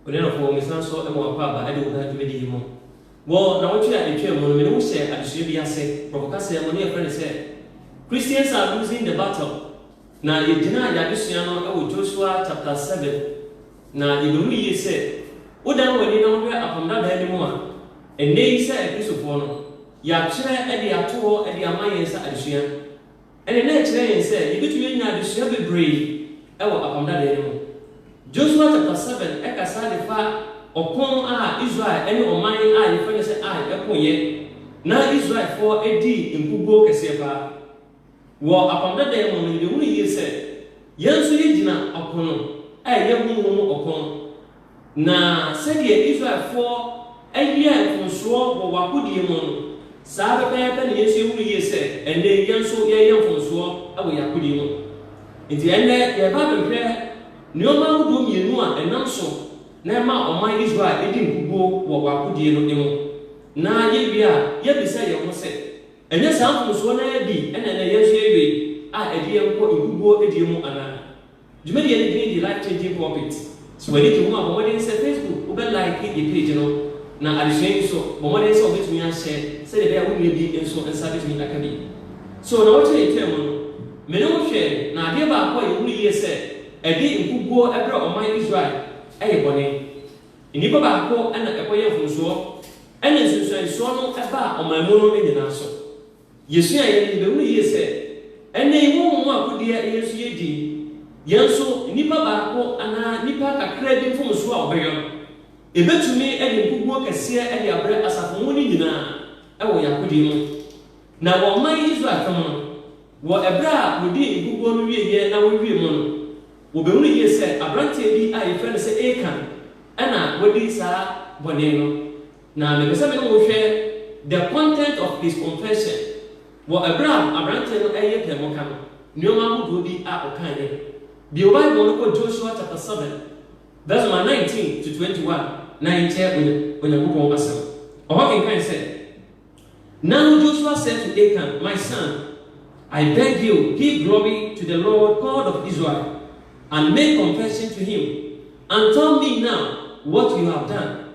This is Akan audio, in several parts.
Onuafoɔ, mesan nso ma wo akwaaba de wo ka dwumadi yi ho. Wɔ nnawɔtwe a ɛtwaam mu no, me ne wo hyɛɛ adesua bi ase, borɔfo kasa mu no yɛfrɛ no sɛ Christians Are Losing the Battle, na yɛgyinaa yɛn adesua no wɔ Joshua chapter seven, na yɛbɛhu yie sɛ wodan w'ani na wohwɛ Apam Dadaa no mu a, ɛnnɛ yi sɛ Akristofoɔ no, yɛatwerɛ de ato hɔ de ama yɛn sɛ adesua. Ɛnde na ɛkyerɛ yɛn sɛ yebetumi anya adesua bebree wɔ Apam Dadae no mu. Josua chapter seven kasa de fa ɔko a Israel ne ɔman a yɛfrɛ no sɛ Ai koeɛ, na Israelfoɔ dii nkoguo kɛseɛ paa. Wɔ Apam Dadae mu no, yɛbɛhunu yie sɛ yɛn nso yɛgyina ɔpono a ɛyɛ honhom mu ɔko no. Na sɛdeɛ Israelfoɔ yɛɛ mfomsoɔ wɔ w'akodie mu no, saa ara pɛpɛɛpɛ na yɛn nso yɛhunu yie sɛ, ɛnnɛ yi, yɛn nso yɛreyɛ mfomsoɔ wɔ yɛn akodie mu. Enti ɛnnɛ, yɛreba abɛhwɛ nneɛma ahodoɔ mmienu a ɛnam so na ɛma ɔman Israel di nkoguo wɔ w'akodie no mu, na yɛwie a, yɛabisa yɛn ho sɛ, Ɛnyɛ saa mfomsoɔ no ara bi na ɛnnɛ yɛn nso yɛwee a ɛde yɛn kɔ nkoguo die mu anaa? Dwumadie no din de Life Changing Pulpit. So w'ani gye ho a, bɔ mmɔden sɛ Facebook wobɛ like yɛn page no, na adesua yi nso, bɔ mmɔden sɛ wobɛtumi ahyɛ sɛdeɛ ɛbɛyɛ a wo nua bi nso nsa bɛtumi aka bi. So nnawɔtwe a ɛtwaa mu no, me ne wo hwɛɛ, na adeɛ baako a yɛhunu yie sɛ ɛde nkuguo brɛ ɔman Israel yɛ bɔne. Nnipa baako na ɛkɔyɛɛ mfomsoɔ, ɛna nsunsuansoɔ no baa ɔman mu no nyinaa so. Yesua eyi no, yebehu yiye sɛ, ɛnnɛ yi honhom mu akodeɛ yɛn nso yedi. Yɛn nso, nipa baako anaa nnipa kakraa bi mfomso a wɔbɛyɔ no, ebetumi de nkuguo kɛseɛ de abrɛ asafo mu no nyinaa wɔ yɛn akodie mu. Na wɔ ɔman Israel fam no, wɔ ɛberɛ a wɔdii nkuguo no wieeɛ na wɔwiee mu no, wɔbehunu yiye sɛ aberanteɛ bi a yɛfrɛ no sɛ Akan na wadi saa bɔne no. Na mepɛ sɛ me ne wo hwɛ the content of his confession wɔ ɛberɛ a aberanteɛ no reyɛ deɛ moka no, nnoɔma ahodoɔ bi a ɔkaeɛ. Bue wo Bible no kɔ Joshua chapter seven verse number nineteen to twenty one na yɛnkyɛ Onyankopɔn asɛm. Ɔhɔ kenkan sɛ, Now Joshua said to Achan, My son, I beg you, give glory to the Lord God of Israel, and make confession to him, and tell me now what you have done.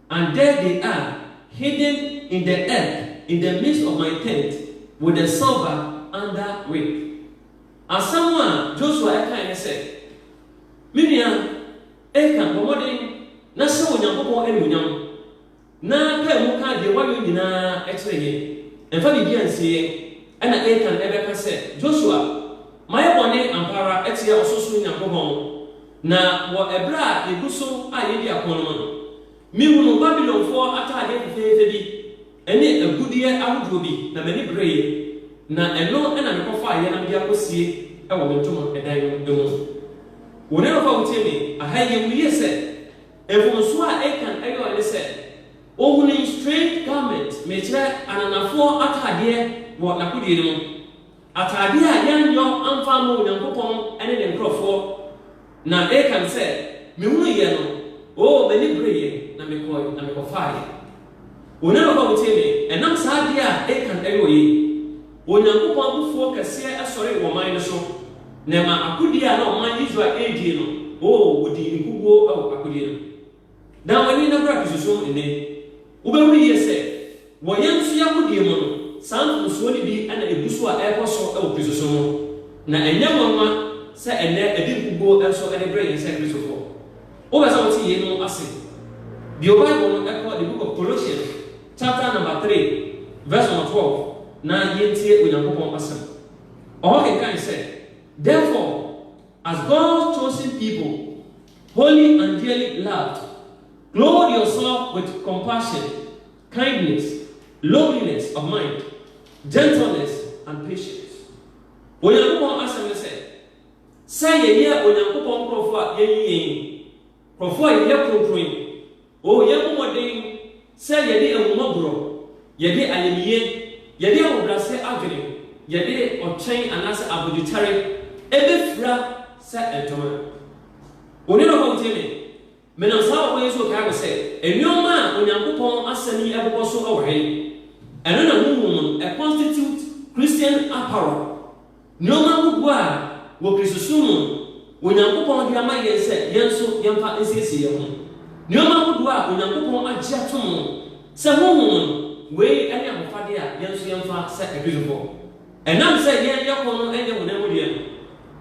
And there they are, hidden in the earth in the midst of my tent, with the silver under with. Asɛm a Josua kae ne sɛ, Me nua Akan, bɔ mmɔden na hyɛ Onyankopɔn anuonyam, na pae mu ka deɛ woayɔ nyinaa kyerɛ yɛn. Ɛmfa biribiara nsie yɛn. Ɛnna Akan bɛka sɛ, Josua, mayɛ bɔne ampa ara atia Ɔsorosoro Nyankopɔn. Na wɔ ɛberɛ a yɛgu so a yɛredi ako no mu no, mehunuu Babilonfoɔ ataadeɛ fefeefe bi ne agudeɛ ahodoɔ bi, na m'ani bereeɛ, na ɛno na mekɔfaeɛ na mede akɔsie wɔ me ntoma dan no mu. Wo ne nɔpa a wotie me, aha yi yɛhu yie sɛ, mfomsoɔ a Akan yɔɔe ne sɛ, ɔhunii strange garment, mekyerɛ, ananafoɔ ataadeɛ wɔ n'akodie no mu. Atade a yɛanyɔ amfa ammɔ Onyankopɔn ne ne nkurɔfoɔ. Na Akan sɛ, Mehunuiɛ no, oo, m'ani bereeɛ, na mekɔe na mekɔfaaeɛ. Onyankopɔn motie me, ɛnam saa adeɛ a Akan yɔeɛ yi, Onyankopɔn abufuo kɛseɛ sɔree wɔ ɔman no so, na ɛmaa akodie a na ɔman Israel redie no, oo, wɔdii nkoguo wɔ akodie no. Dan w'ani na bra Kristosom mu nnɛ. Wobɛhunu yie sɛ, wɔ yɛn nso yɛn agodie mu no, saa mfomsoɔ no bi na ɛgu so a ɛrekɔ so wɔ Kristosom mu. Na ɛnyɛ nwanwa sɛ ɛnnɛ ɛde nkuguo nso de brɛ yɛn sɛ Kristofoɔ. Wopɛ sɛ wote yeinom ase? Bio Bible no, kɔ The Book of Colossians chapter number three verse number twelve na yɛntie Onyankopɔn Asɛm. Ɔhɔ kenkan sɛ, Therefore, as God's chosen people, Holy Angelic Love to clothe yourself with compassion, kindness, lowliness of mind, gentleness and patience. Onyankopɔn asɛm ne sɛ, sɛ yɛyɛ Onyankopɔn nkurɔfo a yɛayi yɛn, nkurɔfo a yɛyɛ kronkron, O yɛmmɔ mmɔden sɛ yɛde ahummɔborɔ, yɛde ayamyie, yɛde ahobrɛaseɛ adwene, yɛde ɔkyɛn anaasɛ abodwokyɛre bɛfira sɛ ntoma. Wo ne no bɔ ntie me. Menam saa ɔkwan yi so rekae mo sɛ, nneɛma a Onyankopɔn Asɛm yi bobɔ so wɔ he? Ɛno na honhom mu no, a constitute Christian apparel. Nneɛma ahodoɔ a wɔ Kristosom mu no, Onyankopɔn de ama yɛn sɛ yɛn nso yɛmfa nsiesie yɛn ho. Nneɛma ahodoɔ a Onyankopɔn agye atom no, sɛ Honhom mu no, wei ne ahofadeɛ a yɛn nso yɛmfa sɛ Akristofoɔ. Ɛnam sɛ yɛn yɛkɔn no nyɛ honam mu deɛ no,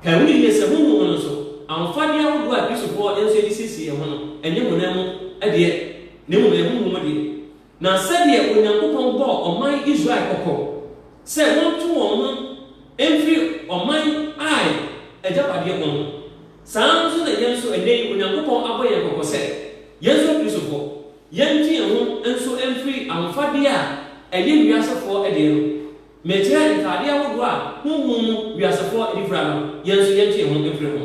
kae ho yie sɛ Honhom mu no nso, ahofadeɛ ahodoɔ a Akristofoɔ yɛn nso yɛde siesie yɛn ho no, ɛnyɛ honam mu deɛ, na mmom ɛyɛ Honhom mu deɛ. Na sɛdeɛ Onyankopɔn bɔɔ ɔman Israel kɔkɔ sɛ wɔnto wɔn ho mfiri ɔman Ai agyapadeɛ ho no, saa ara nso na yɛn nso ɛnnɛ yi Onyankopɔn abɔ yɛn kɔkɔ sɛ, yɛn nso Akristofoɔ, yɛnte yɛn ho nso mfiri ahofadeɛ a ɛyɛ wiasefoɔ deɛ no, mekyerɛ ntaadeɛ ahodoɔ a honhom mu wiasefoɔ de fira no, yɛn nso yɛnte yɛn ho mfiri ho.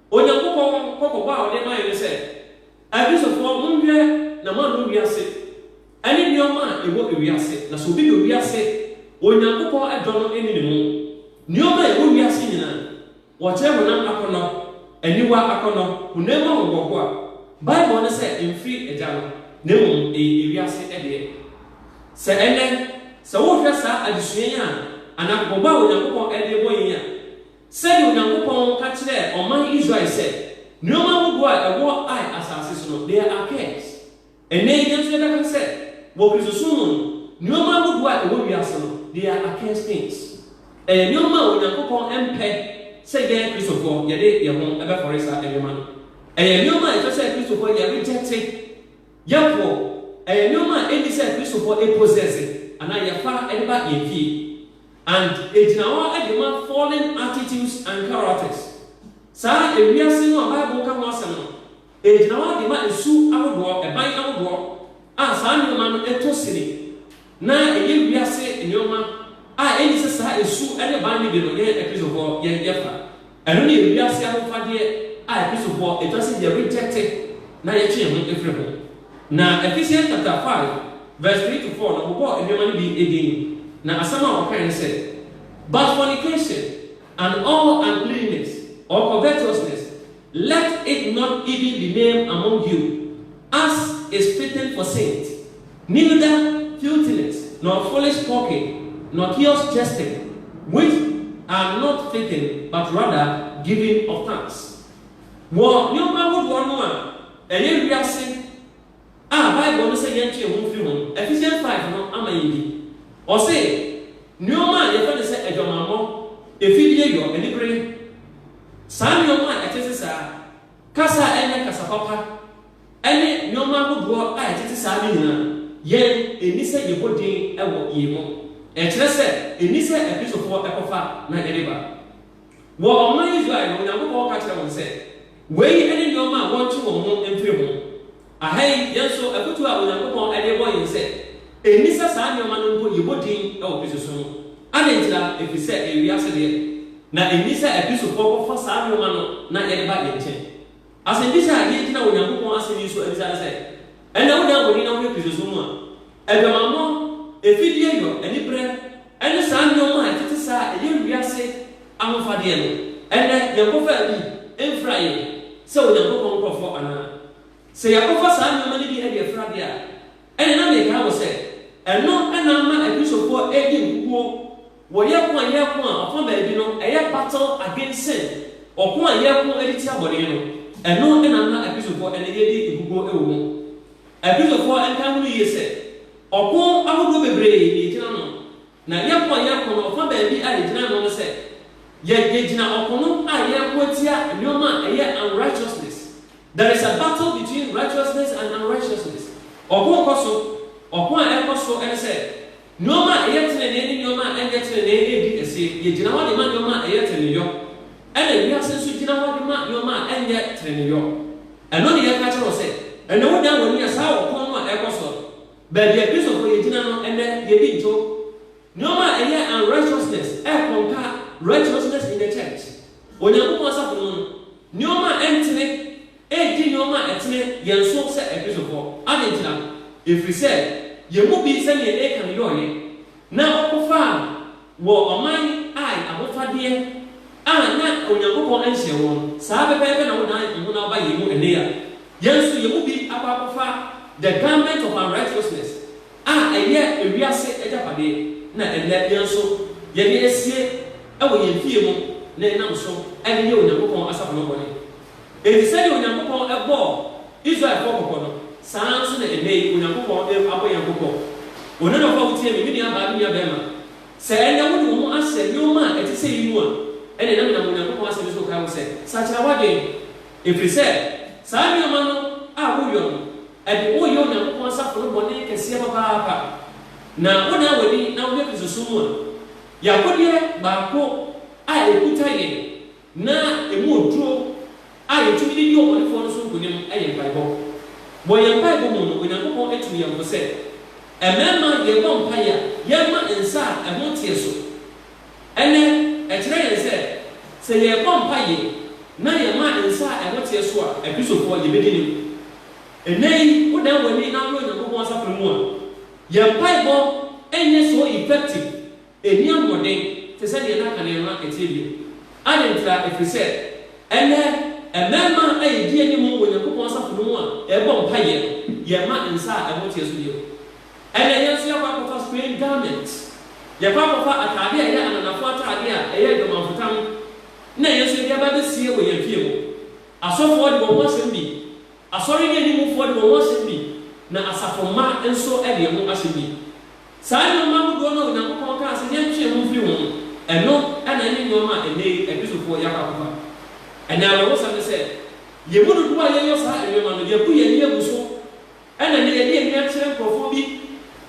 Onyankopɔn kɔkɔbɔ a ɔde mae ne sɛ, Akristofoɔ, monhwɛ na moannɔ wiase ne nneɛma a ɛwɔ wiase. Na sɛ obi dɔ wiase a, Onyankopɔn dɔ no nni ne mu. Nneɛma a ɛwɔ wiase nyinaa, wɔkyerɛ honam akɔnnɔ, aniwa akɔnnɔ, honam mu ahohoahoa. Bible no sɛ ɛmfiri Agya no, na mmom ɛyɛ wiase deɛ. Sɛ ɛnnɛ, sɛ wohwɛ saa adesua yi a, anaa kɔkɔbɔ a Onyankopɔn de rebɔ yɛn yi a, Sɛdeɛ Onyankopɔn ka kyerɛɛ ɔman Israel sɛ, Nnoɔma ahodoɔ a ɛwɔ Ai asase so no, they are accursed. Ɛnnɛ yi, yɛn nso yɛbɛka sɛ, wɔ Kristosom mu no, nnoɔma ahodoɔ a ɛwɔ wiase no, they are accursed things. Ɛyɛ nnoɔma a Onyankopɔn mpɛ sɛ yɛn Kristofoɔ yɛde yɛn ho bɛfɔre saa nnoɔma no. Ɛyɛ nnoɔma a ɛsɛ sɛ Kristofoɔ yɛ rejecte, yɛpoɔ. Ɛyɛ nnoɔma a ɛnni sɛ Kristofoɔ possess anaa yɛfa de ba yɛn fie. And egyina hɔ de ma fallen attitudes and characters. Saa ewiase no a Bible ka ho asɛm no, egyina hɔ de ma su ahodoɔ, ɛban ahodoɔ, a saa nneɛma no tɔ sini, na ɛyɛ wiase nneɛma a ɛnni sɛ saa su ne ban no bi no yɛn Akristofoɔ yɛn yɛfa. Ɛno ne yɛn wiase ahofadeɛ a Akristofoɔ ɛtwa sɛ yɛ rejecte na yɛtwe yɛn ho firi ho. Na Ephesians chapter five verse three to four no bobɔɔ nneɛma no bi din, na asɛm a wɔkaeɛ ne sɛ, But fornication, and all uncleanness, or covetousness, let it not even be named among you, As is fitting for Saint, neither filthiness nor foolish talking nor coarse jesting, which are not fitting, but rather giving of thanks. Wɔ nneɛma ahodoɔ no a ɛyɛ wiase a Bible no sɛ yɛntwe yɛn ho mfiri ho no, Ephesians five no ama yɛn bi. Ɔse, Nneɛma a yɛfrɛ no sɛ adwamammɔ, afideyɔ, anibere, saa nneɛma a ɛtete saa, kasa a ɛnyɛ kasa papa, ne nneɛma ahodoɔ a ɛtete saa no nyinaa, yɛn ɛnni sɛ yɛbɔ din wɔ yei ho. Ɛkyerɛ sɛ ɛnni sɛ Akristofoɔ kɔfa na yɛde ba. Wɔ ɔman Israel no, Onyankopɔn ka kyerɛɛ wɔn sɛ, Wei ne nneɛma a wɔntwe wɔn ho mfiri ho, Ɛha yi, yɛn nso, afotu a Onyankopɔn de rebɔ yɛn sɛ enni sɛ saa nneɛma no mpo yɛbɔ din wɔ bi so so no. Adɛn ntira? Efisɛ ɛyɛ wiase deɛ, na enni sɛ afi sofoɔ kɔfa saa nneɛma no na yɛde ba yɛn nkyɛn. Asɛmmisa a yɛgyina Onyankopɔn Asɛm yi so abisa ne sɛ, Ɛnnɛ wodan w'ani na wohwɛ Kristosom mu a, aguamammɔ, afideyɔ, anibere, ne saa nneɛma a ɛtete saa a ɛyɛ wiase ahofadeɛ no, ɛnnɛ yɛnkɔfaa bi mfra yɛn sɛ Onyankopɔn nkurɔfoɔ anaa? Sɛ yɛakɔfa saa nneɛma no bi de afura de a, ɛnneɛ na mekae wɔ sɛ, ɛno na ama Akristofoɔ redi nkoguo, wɔyɛ ko a yɛreko a ɔfa baabi no ɛyɛ battle against sin, ɔko a yɛreko de tia bɔne no, ɛno na ama Akristofoɔ ɛnnɛ yɛredi nkoguo wɔ mu. Akristofoɔ nkae ho no yie sɛ, ɔko ahodoɔ bebree na yɛgyina ano, Na yɛkɔ, yɛkɔ, na ɔfa baabi a yɛgyina no no sɛ, yɛ, yɛgyina ɔko no a yɛreko atia nnoɔma a ɛyɛ unrighteousness. There is a battle between righteousness and unrighteousness. Ɔko rekɔ so. Ɔko a ɛrekɔ so ne sɛ, nnoɔma a ɛyɛ tenenee ne nnoɔma a ɛnyɛ tenenee redi asie. Yɛgyina hɔ de ma nnoɔma a ɛyɛ teneneeyɔ, ɛna wiase nso gyina hɔ de ma nnoɔma a ɛnyɛ teneneeyɔ. Ɛno ne yɛreka kyerɛ wo sɛ, ɛnnɛ wodan w'ani a saa ɔko no a ɛrekɔ so no, Baabi a Kristofo yegyina no ɛnnɛ yedi nto nneɛma a ɛyɛ unrighteousness ɛkɔ nka righteousness in the church, Onyankopɔn asafo no mu no. Nneɛma a ɛntene redi nneɛma a ɛtene yɛn so sɛ Akristofoɔ. Adɛn ntira? Ɛfirisɛ yɛn mu bi sɛdeɛ Akan yɔeɛ Na wɔkɔfaa no wɔ ɔman a ahofadeɛ a na Onyankopɔn nhyɛɛ wɔn saa pɛpɛɛpɛ na wodan wo ho na woba yei mu ɛnnɛ yi a, yɛn nso yɛn mu bi akɔ akɔfa The Garment of Unrighteousness a ɛyɛ ewiase agyapadeɛ na ɛnnɛ yɛn nso yɛde asie wɔ yɛn fie mu na yɛnam so de yɛ Onyankopɔn asafo no bɔne. Enti sɛnea Onyankopɔn bɔɔ Israelfoɔ kɔkɔ no, saa ara nso na ɛnnɛ yi Onyankopɔn abɔ yɛn kɔkɔ. Onanafo a wotie me, me nuabaa, me nuabarima, sɛ ɛnnɛ wode wo ho ahyɛ nneɛma a ɛte sɛyi mu a, ɛnneɛ na menam Onyankopɔn Asɛm yi so rekae wo sɛ, sakyera w'adwene, ɛfiri sɛ saa nneɛma no a woreyɔ no, ɛde wo reyɛ Onyankopɔn asafo no bɔne kɛseɛ papaapa. Na wodan w'ani na wohwɛ Kristosom mu a, yɛn akodeɛ baako a ɛkuta yɛn, Na ɛmu oduro a yɛtumi de di ɔbɔnefoɔ no so nkonim yɛ mpaebɔ. Wɔ yɛn mpaebɔ mu no, Onyankopɔn atu yɛn fo sɛ, mmarima, yɛrebɔ mpaeɛ a, yɛmma nsa a ɛho nteɛ so. Ɛnnɛ, ɛkyerɛ yɛn sɛ, sɛ yɛrebɔ mpaeɛ na yɛma nsa a ɛho teɛ so a, Akristofoɔ, yɛbɛdi anim. Ɛnnɛ yi, wodan w'ani na wohwɛ Onyankopɔn asafo no mu a, yɛn mpaebɔ nyɛ so effective Ɛnni ahoɔden te sɛ deɛ na kane no na ɛteɛ bio. Adɛn ntira? Ɛfiri sɛ, ɛnnɛ, mmarima a yɛdi anim wɔ Onyankopɔn asafo no mu a yɛbɔ mpaeɛ no, yɛmma nsa a ɛho teɛ so bio. Ɛnnɛ, yɛn nso yɛakɔ akɔfa sprain garment. Yɛakɔ akɔfa atadeɛ a ɛyɛ ananafoɔ atadeɛ a ɛyɛ adwamanfotam na yɛn nso yɛde aba abɛsie wɔ yɛn afie mu. Asɔfoɔ de wɔn ho asɛm bi. Asɔre no animfoɔ de wɔn ho asɛm bi, na asafo mma nso de ɛho asɛm bi. Saa nnoɔma ahodoɔ no a Onyankopɔn kaa sɛ yɛntwe yɛn ho mfiri ho no, ɛno na ɛne nnoɔma a ɛnnɛ yi Akristofoɔ yɛ akɔ akɔfa. Ɛnna awerɛhosɛm ne sɛ, yɛn mu dodoɔ a yɛyɔ saa nnoɔma no, yɛabu yɛn ani agu so, ɛnna ɛnnɛ yɛde yɛn ani akyerɛ nkurɔfoɔ bi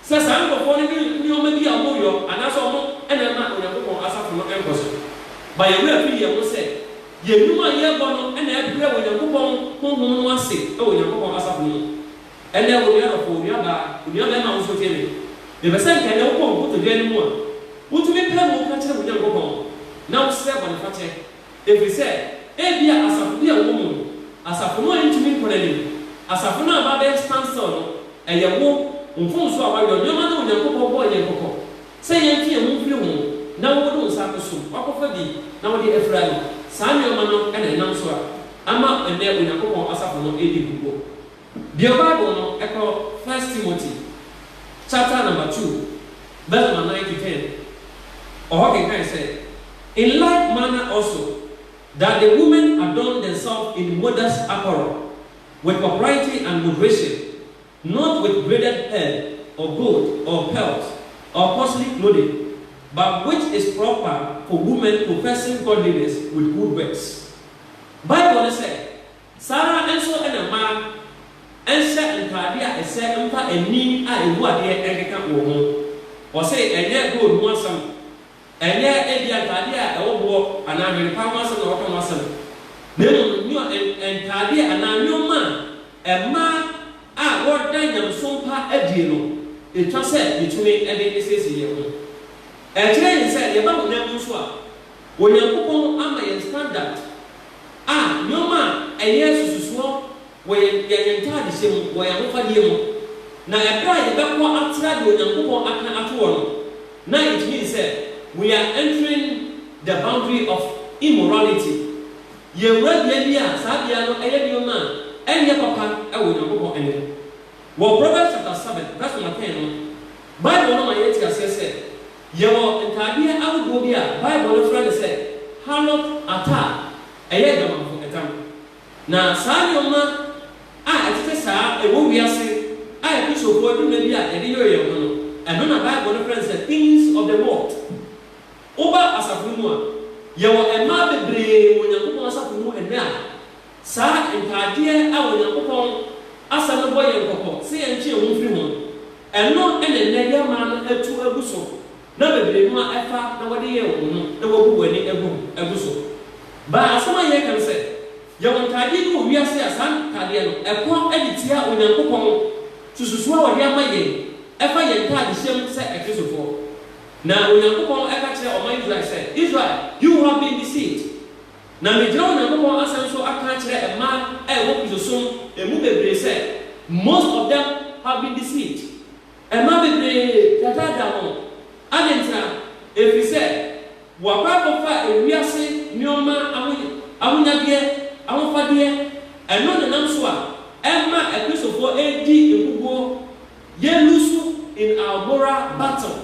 sɛ saa nkurɔfoɔ no ne nnoɔma bi a wɔyɔ anaasɛ wɔn na ɛma Onyankopɔn asafo no nkɔ so. Ma yɛn werɛ mfiri yɛn ho sɛ Yɛn nnwuma a yɛrebɔ no na ɛbrɛ Onyankopɔn Honhom no ase wɔ Onyankopɔn asafo no mu. Ɛnnɛ, onua dɔfo, onua baa, onua barima a wosuro tie me, mepɛ sɛ nka ɛnnɛ wokɔ nkotodwe anim a, wotumi pae mu ka kyerɛ wo Nyankopɔn na wosrɛ bɔnefakyɛ. Ɛfiri sɛ, ebia asafo bi a wowɔ mu no, asafo no antumi nkɔ n'anim. Asafo no a aba abɛyɛ standstill no, ɛyɛ wo, wo mfomso a woayɔ, nneɛma no a Onyankopɔn bɔɔ yɛn kɔkɔ Sɛ yɛntwe yɛn ho mfiri ho na wode wo nsa akoso mu, woakɔfa bi na wode afira no. Saa nneɛma no na ɛnam so a ama ɛnnɛ Onyankopɔn asafo no redi nkoguo. Bio Bible no, kɔ First Timothy chapter number two verse number nine to ten, ɔhɔ kenkan sɛ, In like manner also, that the women adorn themselves in modest apparel, with propriety and moderation, Not with braided hair, or gold, or pearls, or costly clothing, but which is proper for women professing godliness with good works. Bible no sɛ, Saa ara nso na mmaa nhyɛ ntade a ɛsɛ mfa ani a ɛbu adeɛ nkeka wɔn ho. Ɔse ɛnyɛ gold ho asɛm. Ɛnyɛ ebia ntade a ɛwɔ boɔ anaa ahwempa ho asɛm na wɔka ho asɛm, na mmom nneɔ ntadeɛ anaa nneɛma a mmaa a wɔda nyamesom pa adie no etwa sɛ yɛtumi de siesie yɛn ho. Ɛkyerɛ yɛn sɛ yɛba honam mu nso a, Onyankopɔn ama yɛn standard a nneɛma a ɛyɛ sususoɔ wɔ yɛn yɛn ntadehyɛ mu, wɔ yɛn ahofadeɛ mu, na ɛberɛ a yɛbɛkɔ atra deɛ Onyankopɔn aka ato hɔ no, Now it means sɛ we are entering the boundary of immorality. Yɛawura bea bi a saa bea no ɛyɛ nneɛma a ɛnyɛ papa wɔ Onyankopɔn anim. Wɔ Proverbs chapter seven verse number ten no, Bible no ma yɛte aseɛ sɛ yɛwɔ ntaadeɛ ahodoɔ bi a Bible no frɛ no sɛ harlot attire, ɛyɛ adwamanfo ɛtam. Na saa nneɛma a ɛtete saa a ɛwɔ wiase a Akristofoɔ de dwuma bi a yɛde yere yɛn ho no, ɛno na Bible no frɛ no sɛ things of the world. Woba asafo no mu a, yɛwɔ mmaa bebree wɔ Onyankopɔn asafo no mu ɛnnɛ a saa ntaadeɛ a Onyankopɔn Asɛm no bɔ yɛn kɔkɔ sɛ yɛntwe yɛn ho mfiri ho no, ɛno na ɛnnɛ yɛn mmaa no atu agu so Na bebree no a ɛfa na wɔde yɛɛ wɔn no na wɔabu wɔn ani agu ho agu so. Baa asɛm a yɛreka no sɛ, yɛwɔ ntadeɛ bi wɔ wiase a saa ntadeɛ no ɛkɔ de tia Onyankopɔn sususuo a ɔde ama yɛn ɛfa yɛn ntadehyɛm sɛ Akristofoɔ. Na Onyankopɔn ɛka kyerɛɛ ɔman Israel sɛ, Israel, you have been deceived. Na megyina Onyankopɔn asɛm so aka akyerɛ mmaa a ɛwɔ Kristosom mu bebree sɛ, most of them have been deceived. Mma bebree tata da ho. Adɛn ntira? Ɛfiri sɛ wɔakɔ akɔfa ewiase nnoɔma aho, ahonyadeɛ, ahofadeɛ, ɛno na ɛnam so a ɛma akristofoɔ redi nkoguo, yɛ lusu in our moral battle.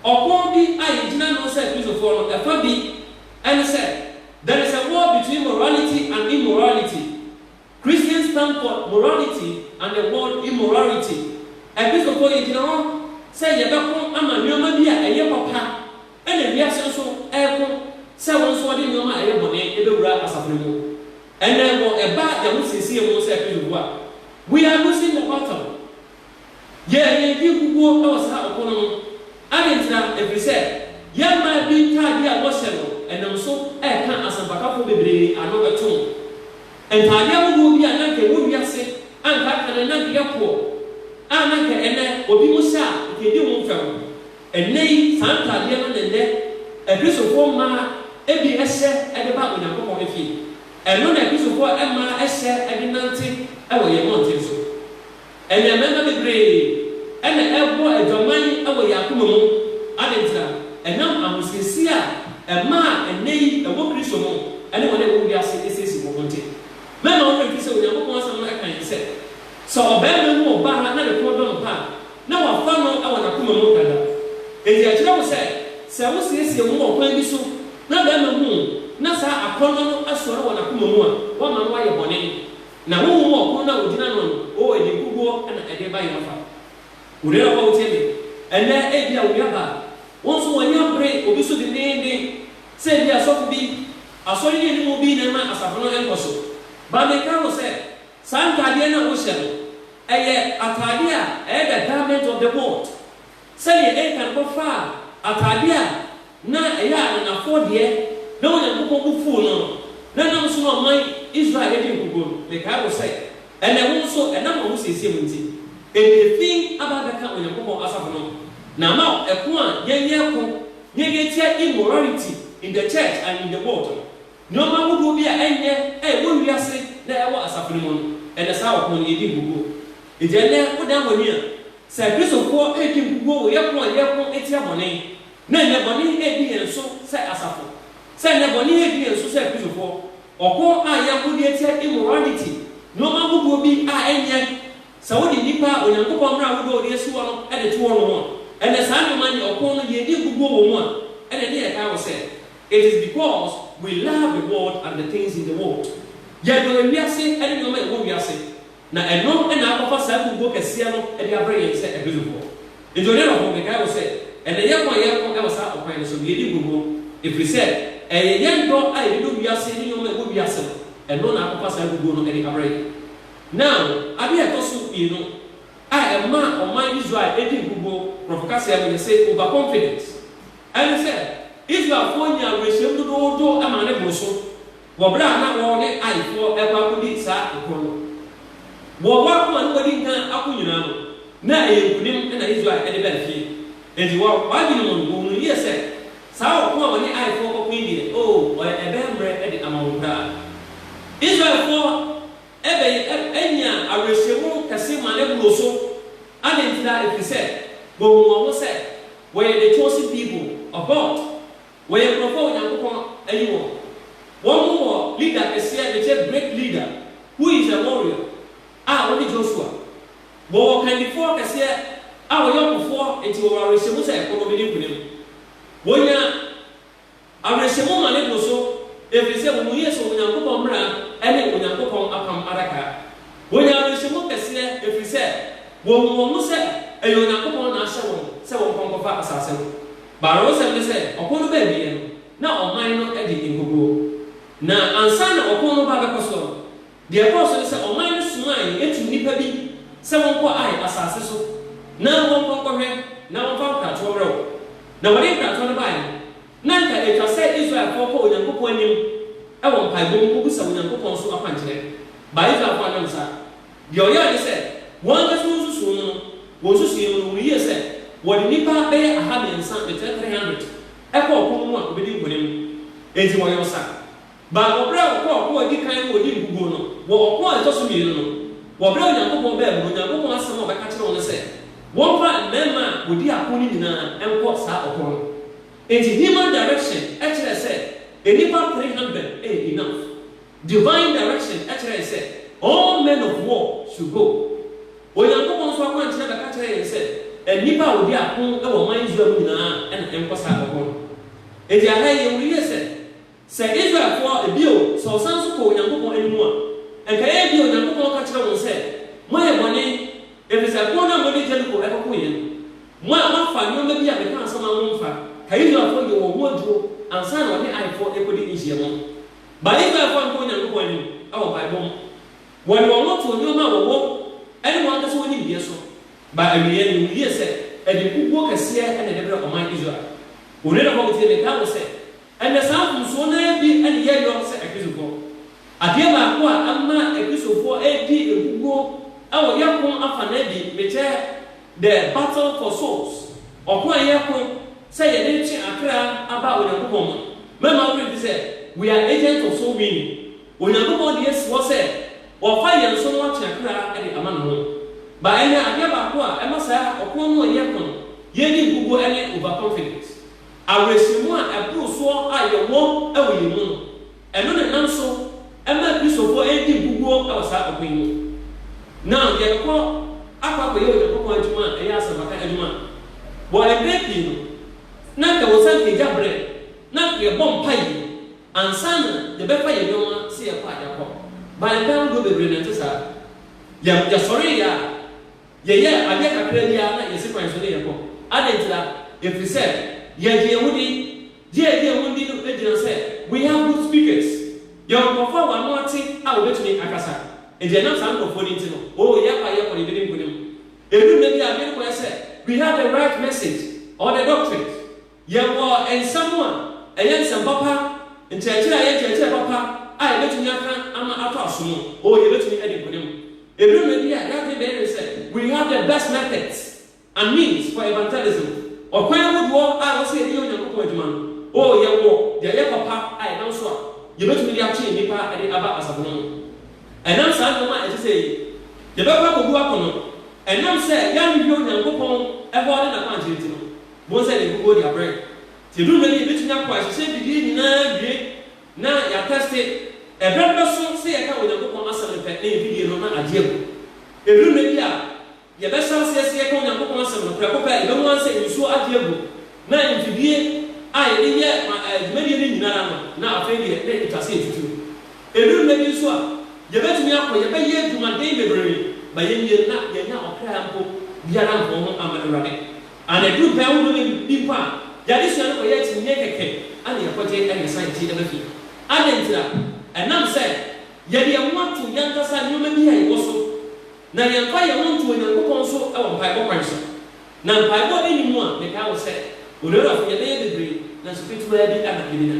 Ɔko bi a yɛgyina ano sɛ akristofoɔ no, ɛfa bi ne sɛ, there is a war between morality and immorality. Christian Standpoint, Morality and the World in Morality, Akristofoɔ yɛgyina hɔ sɛ yɛbɛko ama nnoɔma bi a ɛyɛ papa ɛna wiase nso reko sɛ wɔn nso wɔde nnoɔma a ɛyɛ bɔne bɛwura asafo no mu. Ɛnna wɔ ɛba yɛn ho seesei mu sɛ Akristofoɔ a, we are losing the battle. Yɛ yɛn ti nkukuo wɔ saa ɔko no ho. Adɛn ntira? Ɛfiri sɛ yɛn mmaa bi ntaadeɛ a wɔhyɛ no nam so reka asɛmpakafoɔ bebree ano tom. Ntaadeɛ ahodoɔ bi a na anka ɛwɔ wiase a anka aka no na anka ɛyɛ poɔ a na anka ɛnnɛ obi mo hyɛ a anka ɛdi ho fɛw. Ɛnnɛ yi saa ntaadeɛ no na ɛnnɛ Akristofoɔ mmaa bi hyɛ de ba Onyankopɔn fie. Ɛno na Akristofoɔ mmaa hyɛ de nante wɔ yɛn mmɔnten so. Ɛnna mmarima bebree na ɛrebɔ adwaman wɔ yɛn akoma mu. Adɛn ntira? Ɛnam ahosiesie a ɛma a ɛnnɛyi ɛwɔ Kristo mu ne wɔn a ɛwɔ wiase siesie wɔn ho nti. Mɛma wo werɛ mfi sɛ Onyankopɔn Asɛm no ka yɛn sɛ, Sɛ ɔbarima hu ɔbaa na ne kɔn dɔ no pa a, na wafa no wɔ n'akoma mu dada. Enti ɛkyerɛ wo sɛ, sɛ wosiesie wo ho ɔkwan bi so na barima hu na saa akɔnnɔ no asɔre wɔ n'akoma mu a, woama no ayɛ bɔne. Na wo hu ɔpono no a wogyina ano no, o ɛde koguo na ɛde ba yɛn afa. Wo nuanom a wotie me ɛnnɛ, ebia wo nuabaa, wɔn nso wɔn ani abere obi so denneennen, sɛ ebia sɔfo bi, asɔre ni aniwu bi na ɛma asafo no nkɔ so. Ba meka wo sɛ, saa ntaadeɛ no a wohyɛ no, ɛyɛ ataadeɛ a ɛyɛ the garment of the world, sɛdeɛ Achan kɔfaa ataadeɛ a na ɛyɛ a ananafoɔ deɛ na Onyankopɔn bo fuu no no, na ɛnam so na ɔman Israel yɛ den kokoam. Mekae wo sɛ, ɛnnɛ wo nso, ɛnam w'ahosiesie mu nti, ɛdii fi aba abɛka Onyankopɔn asafo no ho, na ama wo ɛko a yɛnyɛ ɛko na yɛde atia immorality in the church and in the world no. Nnoɔma ahodoɔ bi a ɛnyɛ a ɛwɔ wiase na ɛwɔ asafo no mu no, ɛnɛ saa ɔko no yɛdi nkukuo. Enti ɛnnɛ wodan w'ani a, sɛ Kristofoɔ redi nkukuo wɔ yɛko a yɛko atia bɔne, na nnebɔne redi yɛn so sɛ asafo, sɛ nnebɔne redi yɛn so sɛ Kristofoɔ, ɔko a yɛbɔ de atia immorality, nnoɔma ahodoɔ bi a ɛnyɛ sɛ wode nnipa a Onyankopɔn mmara ahodoɔ a ɔde asi hɔ no de to hɔnom a, ɛnnɛ saa nnoɔma ne ɔko no yɛn ani aguguo wɔ mu a, ɛna ɛne yɛn kae wɔ sɛ, It is because we love the world and the things in the world. Yɛdɔ ewiase ne nnoɔma a ɛwɔ wiase. Na ɛno na akɔfa saa kurobo kɛseɛ no de abrɛ yɛn sɛ ɛbɛdukɔ. Enti ɔne no ko. Mekae wo sɛ, ɛnnɛ yɛn ko a yɛreko wɔ saa ɔkwan no so no, yɛdi nkoguo, ɛfiri sɛ ɛyɛ yɛn dɔ a yɛdedɔ wiase ne nneɛma a ɛwɔ wiase no, ɛno na akɔfa saa kuguo no de abrɛ yɛn. Na adeɛ a ɛtɔ so mmienu a ɛma ɔman Israel di nkoguo, borɔfo kaseɛ no yɛse overconfidence, ɛne sɛ Israelfoɔ nyaa awerɛhyɛm dodoodo maa ne boro so. wɔ berɛ a na wɔn ne Aifoɔ rekɔ akɔdi saa ɔko no. Wɔ wɔn akoma no wɔdi nkan ako nyinaa no, na ɛyɛ nkonim na Israel de baa fie. Enti wɔ wɔn adwene mu no, wɔhunuu yie sɛ, saa ɔko a wɔne Aifoɔ rekɔko yi deɛ, oo, ɔyɛ ɛbɛyɛ mmerɛ de ama wɔn koraa. Israelfoɔ bɛyɛ nya awerɛhyɛmu kɛse maa no boroo so. Adɛn ntira? Ɛfiri sɛ, wɔhunuu wɔn ho sɛ wɔyɛ the chosen people of God. Wɔyɛ nkurɔfo a Onyankopɔn ayi wɔn. Wɔwɔ leader kɛseɛ a ɛkyɛ great leader who is a warrior a ɔne Joshua. Wɔwɔ kandifoɔ kɛseɛ a ɔyɛ ɔkofoɔ enti wɔwɔ awerɛhyɛmu sɛ ɛko no bɛdi nkonim. Wɔnya awerɛhyɛmu ma ne bo so ɛfiri sɛ wɔwɔ Yesu Onyankopɔn mmara ne Onyankopɔn apam adaka. Wɔnya awerɛhyɛmu kɛseɛ ɛfiri sɛ wɔhu wɔn ho sɛ ɛyɛ Onyankopɔn na ahyɛ wɔn sɛ wɔnkɔ nkɔfa asase no. Baronnsɛm ne sɛ, ɔko no baa awiei no, na ɔman no adi nkoguo. Na ansa na ɔko no ba bɛkɔ soɔ no, deɛ ɛkɔɔ so ne sɛ, ɔman no somae tuu nnipa bi sɛ wɔnkɔ Ai asase so na wɔnkɔ nkɔhwɛ na wɔmfa nkratoɔ mmrɛ wɔn. Na wɔde nkratoɔ no baeɛ no, na anka ɛtwa sɛ Israelfoɔ kɔ Onyankopɔn anim wɔ mpaebɔ mu kɔbisa Onyankopɔn so akwankyerɛ. Bae Israelfoɔ annwom saa. Deɛ ɔyɛɛ ne sɛ, wɔn ankasa wɔn nsusuo mu no, wɔn nsusuiɛ mu no, wɔyie sɛ wɔde nnipa bɛyɛ aha mmiɛnsa ne three three hundred kɔ ɔko no mu a wɔbɛdi nkonim. Enti wɔyɛ ɔsa. Baako berɛ a wɔkɔɔ ɔko a ɛdi kan no wɔdii nkoguo no, wɔ ɔko a ɛtɔ so mmienu no, wɔbrɛɛ Onyankopɔn baa mu no, Onyankopɔn asɛm a ɔbɛka kyerɛɛ wɔn ne sɛ, wɔmfa mmarima a wɔdi ako no nyinaa nkɔ saa ɔko no. Enti human direction kyerɛɛ sɛ nnipa three hundred yɛ enough. Divine Direction kyerɛe sɛ All men of war should go. Onyankopɔn nso akwankyerɛ bɛka kyerɛɛ yɛn sɛ nnipa a wɔdi ako wɔ ɔman Israel mu nyinaa na ɛnkɔ saa ɔko no. Enti aha yi yɛhu yiye sɛ, sɛ Israelfo a, bio, sɛ wɔsan nso kɔ Onyankopɔn anim a, anka ɛyɛ ebia Onyankopɔn ka kyerɛ wɔn sɛ, Moayɛ bɔne, efisɛ ko no a mode Jeriko rekɔkoe no, mo a moafa nneɛma bi a mekaa sɛ momfa, ka Israelfo yɛ wɔn ho adwuro ansa na wɔne Aifo rekɔdi nhyiam no. Baebaefo a nkɔ Onyankopɔn anim wɔ mpaebɔ mu. Wɔde wɔn ho to nneɛma a wɔwɔ ne wɔn ankasa wɔn nimdeɛ so. Ba awieeɛ no, wɔwiee sɛ ɛde nkoguo kɛseɛ na ɛde brɛɛ ɔman Israel. Onua na Hogg tie me, daa no sɛ, Ɛnnɛ, saa mfomsoɔ no ara bi na yɛyɔ sɛ Akristofoɔ. Adeɛ baako a ama Akristofoɔ redi nkoguo wɔ yɛn pon afanan bi, mekyɛ, The Battle for Souls, Ɔko a Yɛko sɛ Yɛde Retwe Akra Aba Onyankopɔn Mu no, mɛma wo werɛ mfi sɛ We Are Agents of Soul Winning. Onyankopɔn de asi hɔ sɛ Ɔfa yɛn so na watwe akra de ama Ne ho. Ba ɛnnɛ, adeɛ baako a ɛma saa ɔko no a yɛko no yɛ di nkoguo ne overconfidence. Awerɛhyɛmu a ɛboro soɔ a yɛwɔ wɔ yɛn mu no, Ɛno na ɛnam so maa Kristofo redi nkoguo wɔ saa ɔko yi mu. Ná yɛrekɔ akɔ akɔyɛ Onyankopɔn adwuma a ɛyɛ asɛmpaka adwuma. Wɔ mpɛn pii no, na anka wɔsan ka gya berɛ a na yɛbɔ mpae ansa na yɛbɛfa yɛn nneɛma sɛ yɛkɔ a yɛakɔ. Baa mpɛn ahodoɔ bebree na ɛnte saa. Yɛ, yɛsɔreeɛ a, yɛyɛɛ adeɛ kakraa bi ara na yɛsi kwan so na yɛkɔ. Adɛn ntira? Ɛfiri sɛ, yɛgye yɛn ho di. Dwuadi a wɔdi no gyina sɛ We have good speakers, Yɛwɔ nkurɔfo a wɔn ano ate a wɔbetumi akasa. Enti ɛnam saa nkurɔfo no nti no, oo, yɛkɔ a yɛkɔ no, yebedi nkonim. Edu nna bi a, adwene kɔ yɛ sɛ We have the right message or the doctrines, Yɛwɔ nsɛm a ɛyɛ nsɛm papa, nkyerɛkyerɛ a ɛyɛ nkyerɛkyerɛ papa a yebetumi aka ama atɔ asom. Oo, yebetumi adi nkonim. Edu nna bi a, yɛn adwene bɛyɛ dene sɛ We have the best methods, and means for evangelism, ɔkwan ahodoɔ a ɛwɔ sɛ yɛde yɛ Onyankopɔn adwuma no, oo, yɛwɔ deɛ ɛyɛ papa a ɛnam so a yɛbɛtumi de atwe nnipa a ɛde aba asafo no ho. Ɛnam saa nnoɔma a ɛte sɛ yei, yɛbɛkɔ akɔgu akɔnnɔ, ɛnam sɛ yɛanhwehwɛ Onyankopɔn hɔ ne n'akwankyerɛ nti no, bohu sɛ deɛ nkukuo de abrɛ. Nti ɛduru mmerɛ bi a yɛbɛtumi akɔ ahyehyɛ bidie nyina ara awie na yɛatɛste, ɛberɛ no bɛso sɛ yɛka Onyankopɔn asɛm no pɛ, na yɛn bidie no na agye agu. Ɛduru mmerɛ bi a. Yɛbɛsan ase asi yɛka Onyankopɔn asɛm no prɛko pɛ. Yɛbɛhu ara sɛ nsuo agye agu, na mfidie a yɛde yɛ ma ɛɛ dwumadie no nyinara no, na afei deɛ na ɛtwa sɛ yɛtutu. Ɛduru nnɛ bi nso a, yɛbɛtumi akɔ, yɛbɛyɛ adwumaden bebree, ma yɛnwie no na yɛanya ɔkra mpo biara nkɔɔ ho amma Awurade. Ana ɛduru mpaeɛ ahodoɔ no bi mpo a, yɛn adesua no kɔyɛ akyinnyeɛ kɛkɛ na yɛkɔgye na yɛsan yɛn akyi ba fie. Adɛn ntira? Ɛnam sɛ yɛde yɛn ho ato yɛn ankasa nneɛma bi a yɛwɔ so. Na yɛmfa yɛn ho nto Onyankopɔn so wɔ mpaebɔ kwan so. Na mpaebɔ a enni mu a mekae wɔ sɛ, Onuarafo, yɛbɛyɛ bebree, nanso ketewaa bi na yebenya.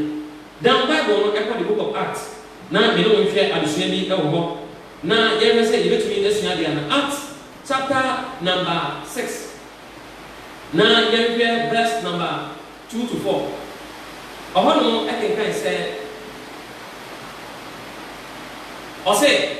Daa mpaebɔ no kɔ The Book of Acts. Ná me ne wo nhwɛ adesua bi wɔ hɔ, na yɛhwɛ sɛ yebetumi asua ade ana. Acts chapter number six, na yɛnhwɛ verse number two to four. Ɔhɔnom kenkan sɛ, Ɔse.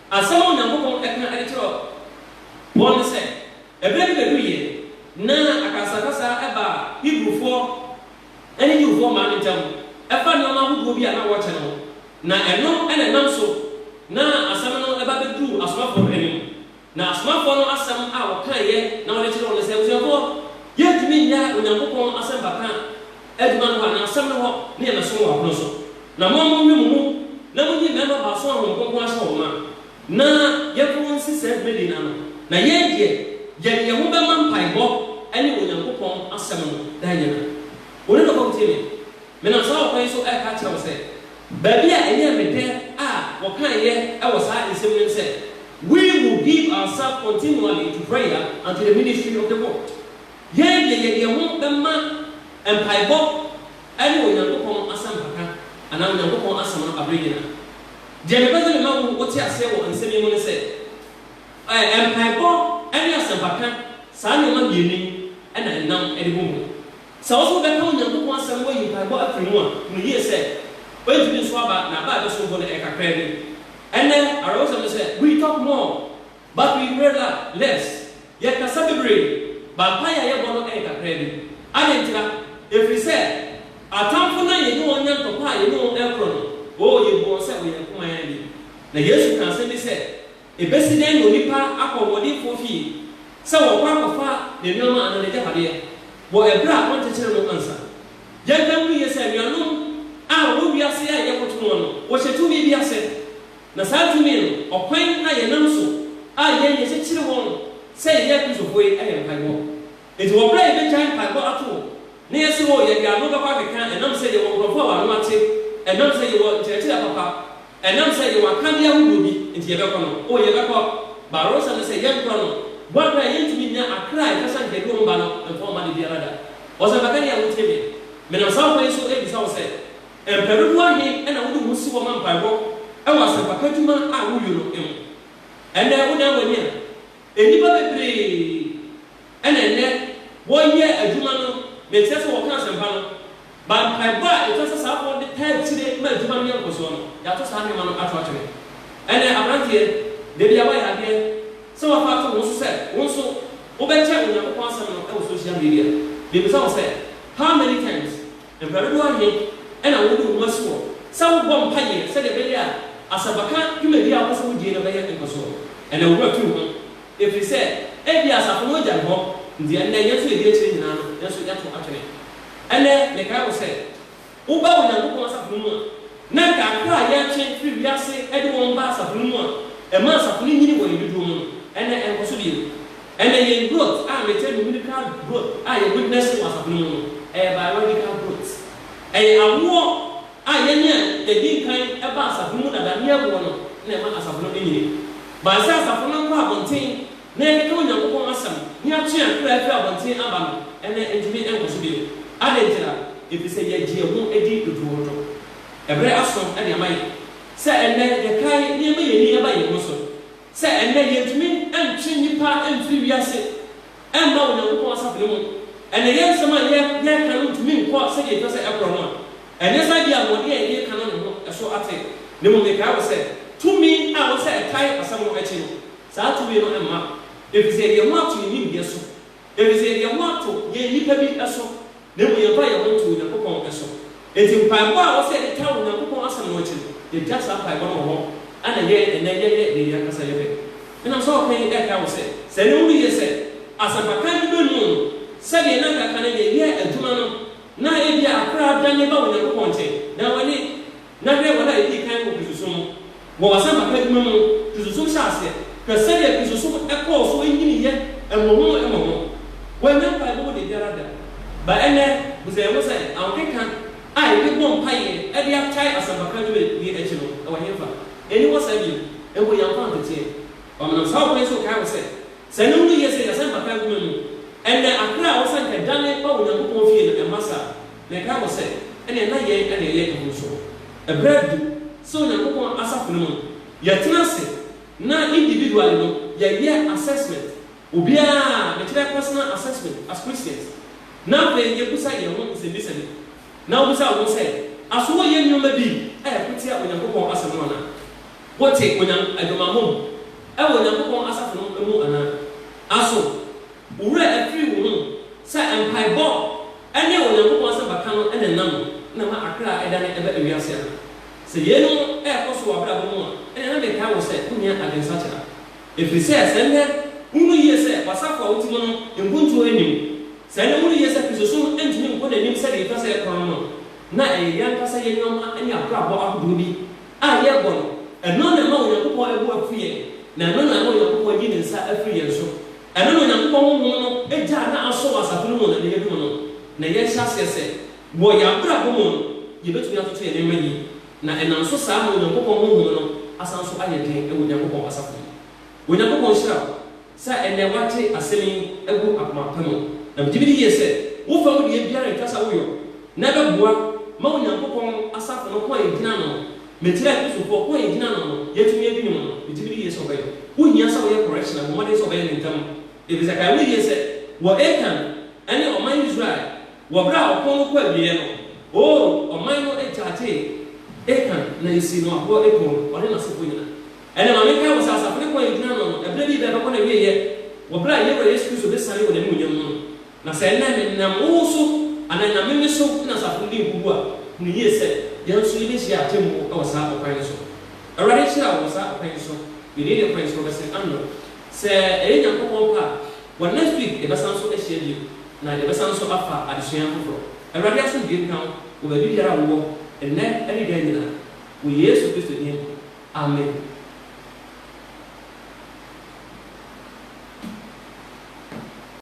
Asɛm a Onyankopɔn ka de kyerɛ wɔn ne sɛ, Ɛberɛ bi bɛduruiɛ na akasakasa baa Hebrifoɔ ne Yewfoɔ mmaa no ntam ɛfa nneɛma ahodoɔ bi a na wɔrekyɛ no ho, na ɛno na ɛnam so na asɛm no ba bɛduruu asomafoɔ no anim. Na asomafoɔ no asɛm a wɔkaeɛ na wɔde kyerɛɛ wɔn ne sɛ, Abusuafoɔ, yɛrentumi nnyae Onyankopɔn asɛmpa ka adwuma no hɔ, anaa asɛm no hɔ, ne yɛbɛsom wɔ apono so. Na mo ara monwe mo mu, na monyi mmarima baason a Honhom Kronkron ahyɛ wɔn ma, na yɛmfa wɔn nsi saa dwumadie no ano, na yɛn deɛ, yɛde yɛn ho bɛma mpaebɔ ne Onyankopɔn asɛm no daa nyinaa. Wo ne dɔkɔ ntie me. Menam saa ɔkwan yi so reka akyerɛ wo sɛ, baabi a ɛyɛɛ me dɛ a wɔkaeɛ wɔ saa nsɛm no mu sɛ, We will give ourselves continually to prayer until the ministry of the world Yɛn deɛ yɛde yɛn ho bɛma mpaebɔ ne Onyankopɔn asɛmpaka anaa Onyankopɔn asɛm no abere nyinaa. Deɛ mepɛ sɛ mema wo wote aseɛ wɔ nsɛm yi mu ne sɛ, ɛ, mpaebɔ ne asɛmpaka, saa nneɛma mmienu yi na ɛnam de bom ho. Sɛ wo nso wobɛka Onyankopɔn asɛm na woayi mpaebɔ afiri mu a, hunu yie sɛ, woantumi nso aba, na aba a ɛbɛsom bo no, ɛyɛ kakraa bi. Ɛnnɛ, awerɛhosɛm ne sɛ, we talk more. But we pray la less, yɛkasa bebree, but mpaeɛ a yɛbɔ no yɛ kakraa bi. Adɛn ntira? Ɛfiri sɛ, atamfo no a yɛne wɔn nya ntɔkwa a yɛne wɔn korɔ no, oo, yɛbu wɔn sɛ Ɔyankopman ni. Na Yesu kaa asɛm bi sɛ, Ɛbɛsi dɛn na onipa akɔ ɔhoɔdenfoɔ fie sɛ ɔrekɔ akɔfa ne nneɛma anaa n'agyapadeɛ, wɔ ɛberɛ a ɔnkyekyere no ansa? Yɛnka ntom yie sɛ, anuanom a wɔwɔ wiase a yɛkoto wɔn no, wɔhyɛ tumi bi ase. Na saa tumi no, ɔkwan a yɛnam so a yɛn yɛ kyekyere wɔn sɛ yɛyɛ Kristofo yi yɛ mpaebɔ. Enti wɔ bere a yɛbɛgyae mpaebɔ ato hɔ na yɛse o yɛde ano bɛkɔ akeka ɛnam sɛ yɛwɔ nkurɔfo a wɔn ano ate, ɛnam sɛ yɛwɔ nkyerɛkyerɛ papa, ɛnam sɛ yɛwɔ akadeɛ ahodoɔ bi nti yɛbɛkɔ no, o yɛbɛkɔ, baaro sɛ no sɛ yɛnkɔ no, bɔ a bere a yɛntumi nnya akra a ɛtwa sa nka bi wɔn ba no mfa wɔn ma da biara da. Ɔsɛmpakani a wotie me, menam saa ɔkwan yi so rebisa wo sɛ, Mpɛrdodo ahe na wode wo ho si hɔ ma mpaebɔ wɔ asɛmpaka dwuma a woyɔ no mu? Ɛnɛ wodan w'ani a, nnipa bebree na ɛnnɛ wɔyɛ adwuma no, mekyerɛ sɛ wɔka asɛmpa no, ma mpaebɔ a etwa sɛ saa bɔ de taa akyire ma adwuma no nya nkɔsoɔ no, yɛato saa nneɛma no ato atwene. Ɛnɛ aberanteɛ, da bi a woayɛ adeɛ sɛ woafa ato wo ho so sɛ wo nso wobɛkyɛ Onyankopɔn asɛm no wɔ social media, mebisa wo sɛ, how many times? Awurade no ayɛ na wode wo ho asi hɔ sɛ wobɔ mpaeɛ sɛdeɛ ɛbɛyɛ a asɛmpaka dwumadie a wopɛ sɛ wodie no bɛyɛ nkɔsoɔ. Ɛnna wo werɛ firi ho, ɛfiri sɛ ebia asafo no agyae hɔ. Nti ɛnnɛ, yɛn nso yɛdi akyire nyinaa no, yɛn nso yɛato atwene. Ɛnnɛ, mekae wo sɛ, woba Onyankopɔn asafo no mu a, Na nka kra a yɛretwe firi wiase de wɔn ba asafo no mu a ɛma asafo no nyini wɔ yɛn dodoɔ mu no, ɛnnɛ ɛnkɔ so bio. Ɛnnɛ yɛn growth a mekyerɛ no medical growth a yɛ witness wɔ asafo no mu no, ɛyɛ biological growth. Ɛyɛ awoɔ a yɛne a yɛdii nkan baa asafo no mu dada ne awoɔ no na ɛma asafo no nyini. But sɛ asafo no nkɔ abɔnten na yɛkeka Onyankopɔn asɛm na yɛatwe yɛn kra afiri abɔnten aba no, ɛnde entumi nkɔ so bio. Adɛn ntira? Efisɛ yɛagye yɛn ho adi dodoodo. Ɛbere aso de ama yɛn sɛ ɛnnɛ yɛkae na yɛma yɛn ani ba yɛn ho so sɛ ɛnnɛ yentumi ntwe nnipa mfiri wiase mma Onyankopɔn asafo no mu. Ɛnnɛ yɛn nsɛm a yɛka no ntumi nkɔ sɛdeɛ ɛhia sɛ ɛkorɔ no a, ɛnyɛ sɛ ebia ahoɔden a yɛde reka no ne ho so ate, na mmom mekae wo sɛ tumi a ɛwɔ sɛ ɛkae asɛm no akyi no, Saa tumi no mma, efisɛ yɛde yɛn ho ato yɛn nimdeɛ so, efisɛ yɛde yɛn ho ato yɛn nnipa bi so, na mmom yɛmfa yɛn ho to Onyankopɔn so. Enti mpaebɔ a ɛwɔ sɛ yɛde taa Onyankopɔn Asɛm no akyi no, yegyae saa mpaebɔ no wɔ hɔ, na ɛyɛ ɛnnɛ yɛyɛ nea yɛn ankasa yɛpɛ. Ɛnam saa ɔpɛ yi ɛrekae wo sɛ, sɛ ɛnnɛ wuhu yiye sɛ asɛmpakan no benu wo no, sɛdeɛ na anka kan no yɛyɛɛ adwuma no, na ebia akora adane ba Onyankopɔn nkyɛn, na w'ani. Na hwɛ, wɔn a edii kan kɔ Kristosom mu. Wɔ asɛmpaka adwuma mu no, Kristosom hyɛɛ aseɛ. Hwɛ sɛdeɛ Kristosom kɔɔ so nyiniiɛ mmɔho mmɔho. Wɔannya mpaebɔ mu dabiara da. Ba ɛnnɛ, bu sɛ yɛho sɛ, ahokeka a yɛde bɔ mpaeɛ de agyae asɛmpaka adwumadie akyi no, ɛwɔ henfa? Ɛnni hɔ saa bio. Mpo yɛamfa anteteɛ. Wɔmenam saa ɔkwan yi so rekae wo sɛ, sɛ yɛnhu no yie sɛ yɛn asɛmpaka adwuma mu, ɛnnɛ, aperɛ a wosɛ anka dane ba Onyankopɔn fie no, ɛmma saa. Mekae wɔ sɛ, ɛnneɛ na yɛn na ɛyɛ emu nso. Ɛberɛ adu sɛ Onyankopɔn asafo no mu no, yɛtena ase na individually no yɛyɛ assessment, obiara, mekyerɛ personal assessment as Christians, na afei yɛbisa yɛn ho nsɛmmisa bi. Na wobisa wo ho sɛ, Aso woyɛ nneɛma bi a ɛko tia Onyankopɔn Asɛm no anaa? Wote Onyan aguamammɔ mu wɔ Onyankopɔn asafo no mu anaa? Aso wo werɛ afiri wo ho sɛ mpaebɔ? Ɛnde Onyankopɔn asɛmpaka no na ɛnam na ma akra da no ba wiase ana? Sɛ yeinom rekɔ so wɔ w'abrabɔ mu a, ɛnde na mekae wo sɛ wonhia adwensakyera. Ɛfiri sɛ, sɛ ɛnnɛ wohu no yie sɛ w'asafo a wote mu no mpontuo nnim, sɛ ɛnnɛ wohu no yie sɛ Kristosom ntumi nkɔ n'anim sɛdeɛ ɛtwa sɛ ɛkorɔn no, na ɛyɛ yɛn ankasa yɛn nneɛma ne abrabɔ ahodoɔ bi a yɛbɔ no, ɛno na ɛma Onyankopɔn bo afu yɛn, na ɛno na ɛma Onyankopɔn yi ne nsa firi yɛn so. Ɛno na Onyankopɔn honhom no gya a na asɔ wɔ asafo no mu no de adum no, na yɛahyɛ aseɛ sɛ, wɔ yɛn abrabɔ mu no, yɛbɛtumi atoto yɛn nneɛma yie, na ɛnam so saa ama Onyankopɔn honhom no asan nso ayɛ den wɔ Onyankopɔn asafo mu. Onyankopɔn nhyira wo Sɛ ɛnnɛ woate asɛm yi agu akoma pa mu, na megye medi yie sɛ wo fam deɛ biara renkasa wo yɔ, na ɛbɛboa ma Onyankopɔn asafo no ko a yɛgyina ano no, mekyerɛ Kristofoɔ ko a yɛgyina ano no, yɛatumi adi ne ho no, megye medi yie sɛ wobɛyɔ. Wohia sɛ woyɛ correction a, bɔ mmɔden sɛ wobɛyɛ no ntɛm, ɛfiri sɛ kae wo yie sɛ wɔ Akan ne ɔman Israel wɔ berɛ a ɔko no kɔ awieɛ no, Oo, ɔman no kyakyee Akan na ɛsii no aboɔ akum no, ɔne n'asefoɔ nyinaa. Ɛnna ma menkae wo sɛ asafo no kɔn a yegyina ano no, ɛberɛ bi bɛn bɛkɔ n'awieeɛ, wɔ berɛ a yɛn Wura Yesu Kristo bɛsiane wɔ n'animuonyam mu no. Na sɛ ɛnnɛ menam wo wo so, anaa ɛnam me me so na asafo no di nkogu a, hunu yie sɛ, yɛn nso yɛbɛhyia atemmuo wɔ saa ɔkwan no so. Awurade nhyira wo wɔ saa ɔkwan yi so. Me din de Prince Roberson Anno. Sɛ ɛyɛ Nyankopɔn pɛ a, wɔ next week yɛbɛsan nso ahyia bio, na yɛbɛsan nso afa adesua foforɔ. Awurade asomdwoeɛ nka wo wɔ baabi biara a wowɔ, ɛnnɛ ne daa nyinaa, wɔ Yesu Kristo din mu. Amen.